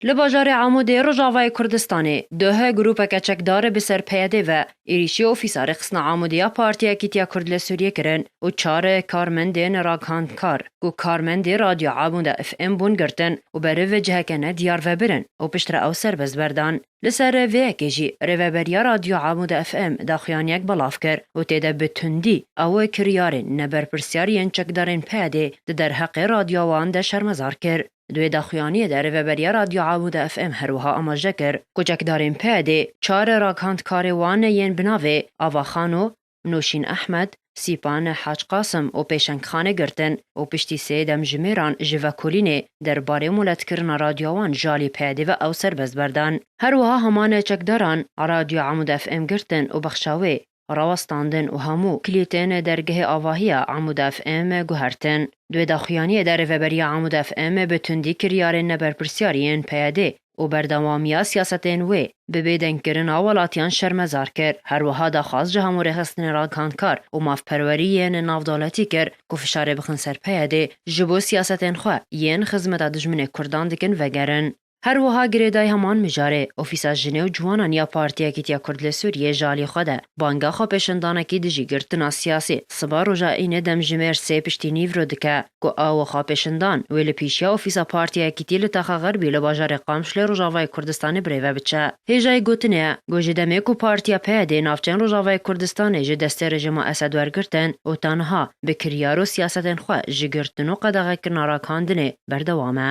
Li bajarê Amûdê Rojavayê Kurdistanê duhe grûpeke çekdarê bi ser PYD'ê ve êrîşî ofîsa rêxistina Amûdê ya Partiya Yekîtiya Kurd li Sûriyê kirin û çar karmendên ragihndkar ku karmendê Radyo Amûda FM bûn girtin û beriv vê ciheke ne diyar ve birin û piştre ew serbest berdan. Li ser vê yekê jî Rêveberiya Radyo Amûda FM daxuyaniyek belav kir û tê de bi tundî ew kiryarên neberpirsyar yên çekdarên PYD'ê di derheqê radyoa wan de şermezar kir. Di wê daxuyaniyê de rêveberiya Radyo Amuda FM her wiha amaje kir ku çekdarên PYD'ê çar raghandkarê wan yên bi navê Avaxano, Noşîn Ehmed, Sîpan Hac Qasim û Pêşeng Xanê girtin û piştî sê demjimêran ji vekolînê der barê moletkirina radyoa wan ji alî PYD'ê ve ew serbest berdan. Her wiha heman çekdaran Radyo Amuda FM girtin û bexşa wê. rawestandin û hemû klîtên dergehê avahiya Amûd FM guhertin. Di wê daxuyaniyê de Rêveberiya Amûd FM bi tundî kiryarên neberpirsyarî yên PYD û berdewamiya siyasetên wê bi bêdengkirina welatiyan şermezar kir, her wiha daxwaz ji hemû rêxistinên ragihandkar û mafperwerî yên navdewletî kir ku fişarê bixin ser PYD ji bo siyasetên xwe yên xizmeta dijminê kurdan dikin vegerin. Her wiha girêdayî heman mijarê, ofîsa jinê û ciwanan ya Partiya Yekîtiya Kurd li Sûriyeyê ji alî xwe de banga xwepêşandanekî dijî girtina siyasî siba roja Înê demjimêr sê piştî nîv re dike ku awe xwepêşandan wê li pîşiya ofîsa Partiya Yekîtî li Taxa Xerbî li bajarê Qamşlê Rojavayê Kurdistanê birêve biçe. Hêjayî gotinê ye ku ji demê ku Partiya PYD'ê navçeyên Rojavayê Kurdistanê ji destê rejîma Esed wergirtin û ta niha bi kiryar û siyasetên xwe ji girtin û qedexekirina rakandinê berdewam e.